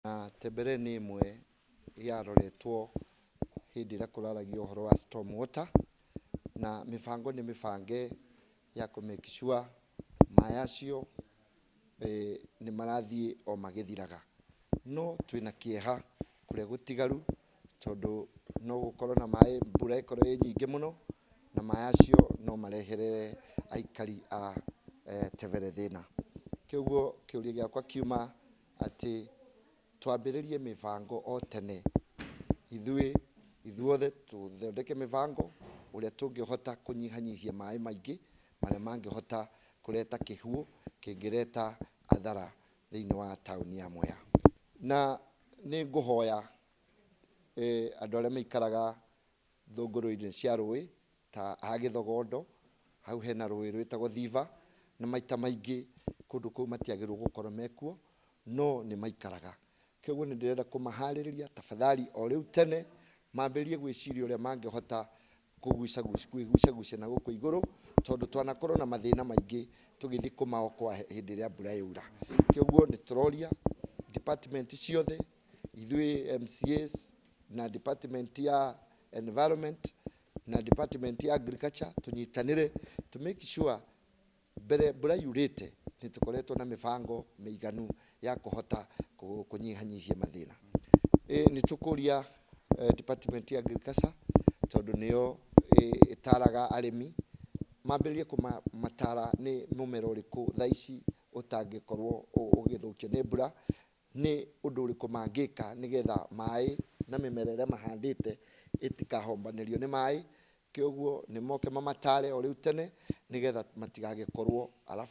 Na Tembere nĩ ĩmwe yaroretwo hĩndĩ ĩrĩa kũraragio ũhoro wa storm water, na mĩbango nĩ mĩbange ya kũ make sure maĩ acio nĩ marathiĩ o magĩthiraga. No twĩna kĩeha kũrĩa gũtigaru tondũ no gũkorwo na maĩ mbura ĩkorwo ĩ nyingĩ mũno, na maĩ acio no marehere aikari a Tembere thĩna. Kogwo kĩũria gĩakwa kiuma atĩ twambĩrĩrie mĩbango o tene, ithuĩ ithuothe tũthondeke mĩbango ũrĩa tũngĩhota kũnyihanyihia maĩ maingĩ marĩa mangĩhota kũreta kĩhuũ kĩngĩreta athara thĩinĩ wa taũni ya Mwea. Na nĩ ngũhoya andũ arĩa maikaraga Thũngũrũinĩ cia rũĩ ta ha Gĩthogondo, hau hena rũĩ rwĩtagwo Thiva, na maita maingĩ kũndũ kũu matiagĩrĩirwo gũkorwo mekuo, no nĩmaikaraga. Koguo nĩndĩrenda kũmaharĩrĩria tafadhali o rĩu tene mambĩrĩrie gwĩciria ũrĩa mangĩhota kwĩgucagucia na gũkũ igũrũ, tondũ twanakorwo na mathĩna maingĩ tũgĩthiĩ kũmaokoa hĩndĩ ĩrĩa mbura yaura. Koguo nĩtũroria department ciothe, Ithuĩ MCAs na department ya environment na department ya agriculture tũnyitanĩre to make sure mbere mbura yurĩte nĩ tũkoretwo na mĩbango mĩiganu ya kũhota kũ- kũnyihanyihia mathĩna Eh, nĩ tũkũria eh, department ya agriculture tondũ nĩyo eh, ĩtaraga arĩmi mambĩrĩrie kũmatara nĩ mũmera ũrĩkũ thaa ici ũtangĩkorwo ũ- ũgĩthũkio nĩ mbura Nĩ ũndũ ũrĩkũ mangĩka nĩ getha maaĩ na mĩmera ĩrĩa mahandĩte ĩtikahombanĩrio nĩ maaĩ? Kĩoguo nĩ moke mamataare o rĩu tene nĩ getha matigagĩkorwo.